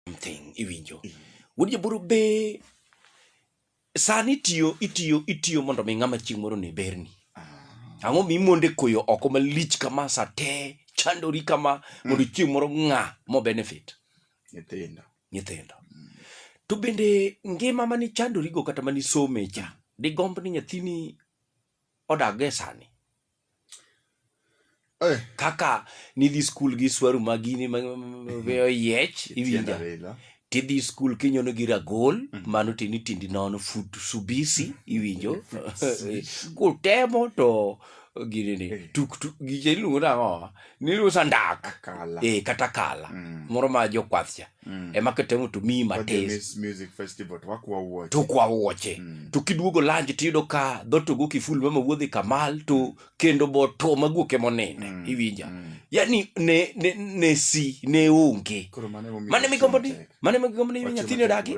something iwinjo wuod jaburu be sani itiyo itiyo itiyo mondo mi ng'ama chieng' moro ne berni ang'o mi monde koyo oko malich kama sa te chandori kama mondo chieng' moro ng'a mo benefit nyithindo nyithindo to bende ngima mani chandorigo kata mani some cha digomb ni nyathini odag e sani Eh, kaka nidhi skul gi swaru magini ma- ma- ma- ma- oyiech tienda iwinja welo. tidhi skul kinyono gi ragol mano tini tindi nono fut subisi iwinjo kutemo to ginini Eh. tuktuk giche iluongo nang'o nirusa ndak Akala. eh, kata kala Mm. moro ma jokwath cha mm. ema ketemo to miyi matis to kwa wuoche mm. to kiduogo lanji tiyudo ka dhoto go kiful mama wuodhi kamal to mm. kendo bo to maguok ema oninde mm. iwinja mm. yani ne, ne, ne si ne onge mane migombo ni mane migombo ni nyathini odagi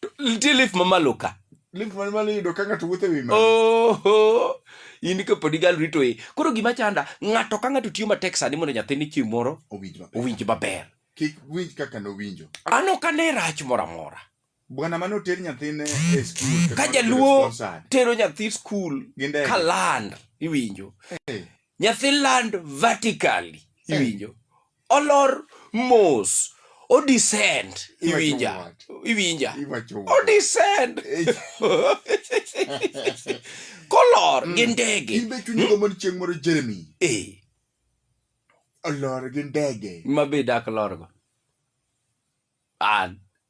To nitie lif mamalo ka link man malo yudo ka ng'ato wuotho e wi malo oho in ka pod igal rito e koro gima chanda ng'ato ka ng'ato tiyo matek sani mondo nyathine chieng' moro owinj maber owinj maber kik winj kaka nowinjo an ok ane rach moro amora bwana mane oter nyathine e skul to Ka notere jaluo- sponsored. tero nyathi skul Gi ndege. ka land iwinjo Eh, nyathi land vertically iwinjo olor mos odescend iwinja iwinja odescend kolor gi mm. ndege imbe chunygo hmm? mon chieng' moro jeremy e olor gi ndege mabe dak lorgo an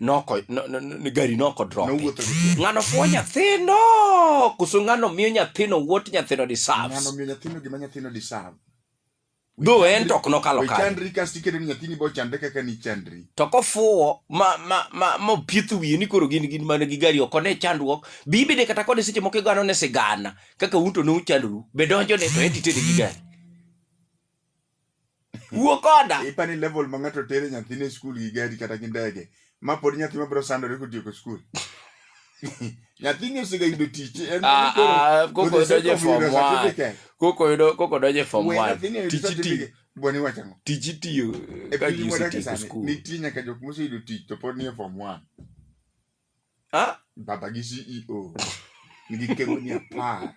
noko no- no- no- gari noko drop Nowuotho gi tiende. ng'ano fuo nyathino koso ng'ano miyo nyathino wuot nyathino Ng'ano deserves miyo nyathino gima nyathino deserve. dho en to ok nokalo We kare chandri kasto iketo ni nyathini bo chandre kaka ni chandri. to kofuwo ma ma ma ma pieth wiye ni koro gin gin mana gi gari oko ne chandruok bibide kata kode seche moko igano ne sigana kaka un to ne uchandru be donjo ne to en titere gi gari wuo koda ipani level ma ng'ato tere nyathine skul gi gari kata gi ndege ma pod nyathi mabiro sandore kotieko skul nyathini osega yudo tich en Ah, koro- ah, koko for the sake donje of form yudo one. certificate. koko yudo koko donje form We 1 nyathini oyudo tich itiyo certificate. Bwana iwacho ang'o? tich itiyo E ka piny ji mwadake osetieko sani, skul nitie nyaka jok moseyudo tich to pod nie form one Ah, baba gi ceo nigi kegoni apar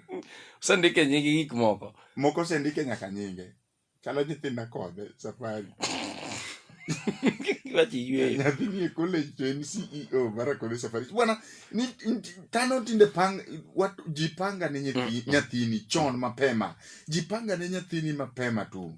osendike nyingi gik moko moko osendike nyaka nyinge chalo nyithinda kode safari wachi yweyo nyathi nie college to en ceo mara kode safari bwana ni ni- tano tinde pang wat, ji panga ne nyathi, nyathini chon mapema ji panga ne nyathini mapema tu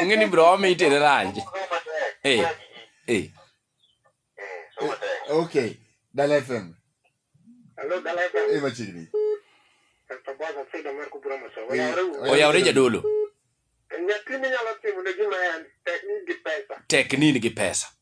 onge ni bro wame itere ranj eh, eh. okay dala fm e machiegni oyawre jadolo tekni nigi pesa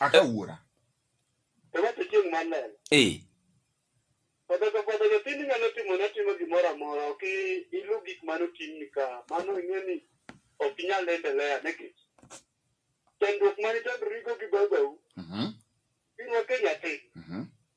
Aka wuora. Eh. Kata ka kata ka tini nyalo timo na timo gimora mora ok ilu gik mano tini ka mano ing'e ni ok inyal endelea ne kech. Chandruok mani chandruok rigo gi babau. Mhm. Irwa Kenya te. Mhm.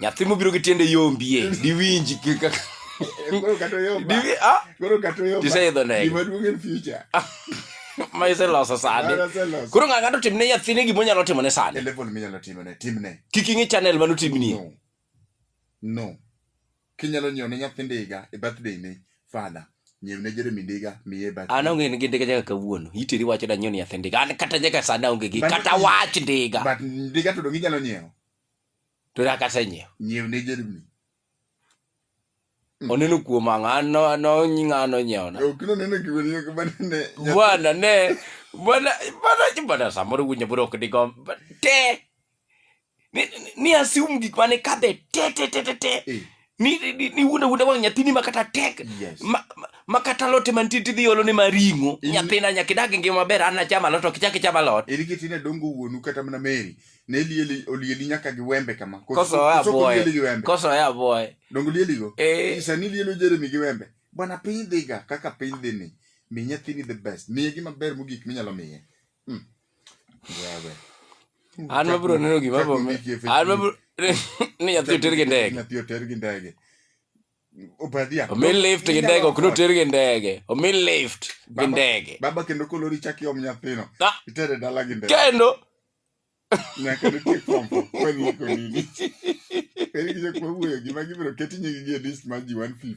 nyathi mobiro gi tiende yombie diwinji kaka Koro kata oyomba. diwi ah Koro kata oyomba. Tiseidho ndege. Gima duong' en future. ma iseloso sani Mano aseloso. koro ng'a ng'ato timne nyathine gima onyalo timone E sani level minyalo timone, timne. kik ing'i channel mano timni No. No. Kinyalo nyiewo ne nyathi ndiga e birthday ne father. Nyiew ne Jeremy ndiga miye e birthday. an onge gi ndiga nyaka kawuono iteri wacho da nyoni nyathi ndiga an kata nyaka sani aonge gi But- kata wach ndiga But ndiga to dong' inyalo nyiewo. to nyaka asenyiewo nyiew ne jerumni Mm. oneno kuom ang'o an no- ano ng'ano nyiewona ok noneno gima ni ok banene bwana ne bwana bwana bwana samoro winjo bro ok digom but te ni, ni- ni assume gik mane kadhe te te te te te Eh, ni ni, ni wuonda wuonda wang' nyathini ma kata tek Yes. ma, ma, ma kata lote mantie tidhi olo ni maring'o In- nyathina nyaka idag ngima maber an acham alot ok ichak icham alot eri kiti ne dongo wuonu kata mana meri ne lieli olieli nyaka gi wembe kama Koso- koso oya koso boye lieli gi wembe koso oya boye dongo lieli go Eh. sani lielo jeremy gi wembe bwana piny dhiga kaka piny dhi ni mi nyathini the best miye gima ber mogik minyalo miye Hmm. an mabro neno gima ni nyathi oter gi ndege nyathi oter gi ndege obadhia omi lift gi ndege ok noter gi ndege omi lift gi ndege baba kendo kolori chak iom nyathino ah! itere dala gi ndege kendo nyaka nitie fomfo kweni iko nini eri gi jokma wuoyo gima gibiro keti nyigi gi e list mar ji 150